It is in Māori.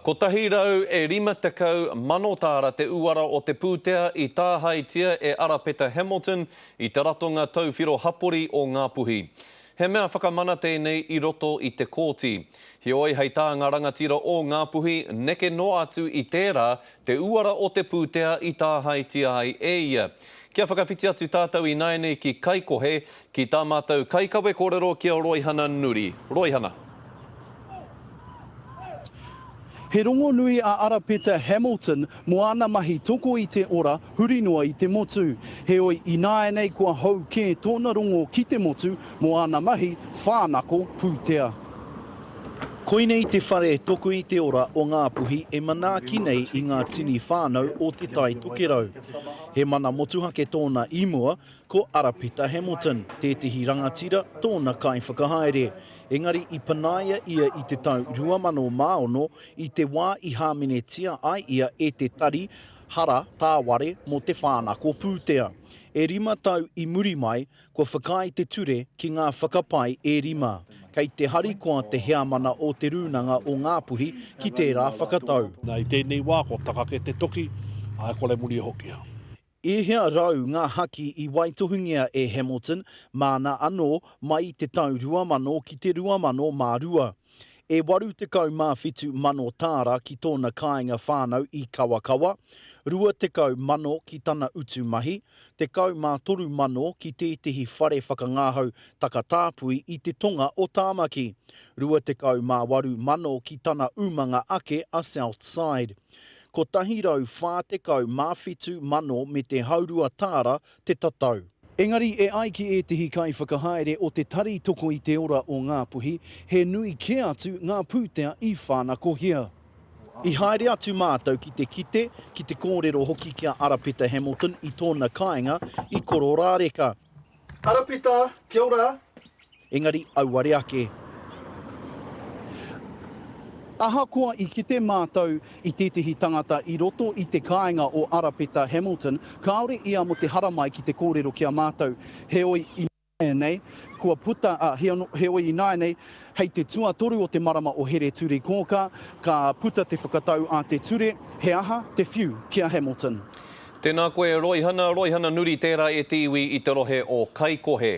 Kotahi rau e rima tekau mano tāra te uara o te pūtea i tāhaetia e Arapeta Hamilton i te ratonga tauwhiro hapori o Ngā Puhi. He mea whakamana tēnei i roto i te kōti. Heoi hei tā ngā rangatira o Ngā Puhi neke noa atu i tērā te uara o te pūtea i tāhaetia ai e ia. Kia whakawhiti atu tātou ināianei ki Kaikohe, Ki tā mātou kaikawe kōrero ki a Roihana Nuri. Roihana. He rongonui a Arapeta Hamilton mō ana mahi toko i te ora huri noa i te motu. Heoi, ināianei kua hou kē tōna rongo ki te motu mō ana mahi whānako pūtea. Koinei te whare toko i te ora o Ngāpuhi e manaaki nei i ngā tini whānau o Te Tai Tokerau. He mana motuhake tōna i mua, Ko Arapeta Hamilton tētehi rangatira tōna kaiwhakahaere, engari i panaia ia i te tau 2006 i te wā i hāmenetia ai ia e te tari hara tāware mō te whānako pūtea. E rima tau i muri mai, kua whakaae te ture ki ngā whakapae e rima. Kei te harikoa te heamana o Te Rūnanga o Ngā Puhi ki tērā whakatau. Nā, i tēnei wā kua takake te toki, ā, kore muri e hokia. I hea rau ngā haki i waitohungia e Hamilton māna anō mai i te tau 2000 ki te 2002? E 87 mano tāra ki tōna kāinga whānau i Kawakawa, 20 mano ki tana utu mahi, 13 mano ki tētehi whare whakangahau takatāpui i te tonga o Tāmaki, 28 mano ki tana umanga ake a Southside. 140 mā whitu mano me te haurua tāra te tatau. Engari e ai ki ētehi kaiwhakahaere o Te Tari Toko i te Ora o Ngāpuhi, he nui kē atu ngā pūtea i whānakohia. I haere atu mātou ki te kite, ki te kōrero hoki ki a Arapeta Hamilton i tōna kāinga i Kororāreka. Arapeta, kia ora. Engari auare ake. Ahakoa i kite mātou i tētehi tangata i roto i te kāinga o Arapeta Hamilton, kāore ia mō te haramai ki te kōrero ki a mātou. Heoi ināianei, kua puta, ā, heoi ināianei, hei te tuatoru o te marama o Here-turi-kōkā, ka puta te whakatau a te ture, He aha te whiu ki a Hamilton? Tēnā koe Roihana, Roihana Nuri tērā e te iwi i te rohe o Kaikohe.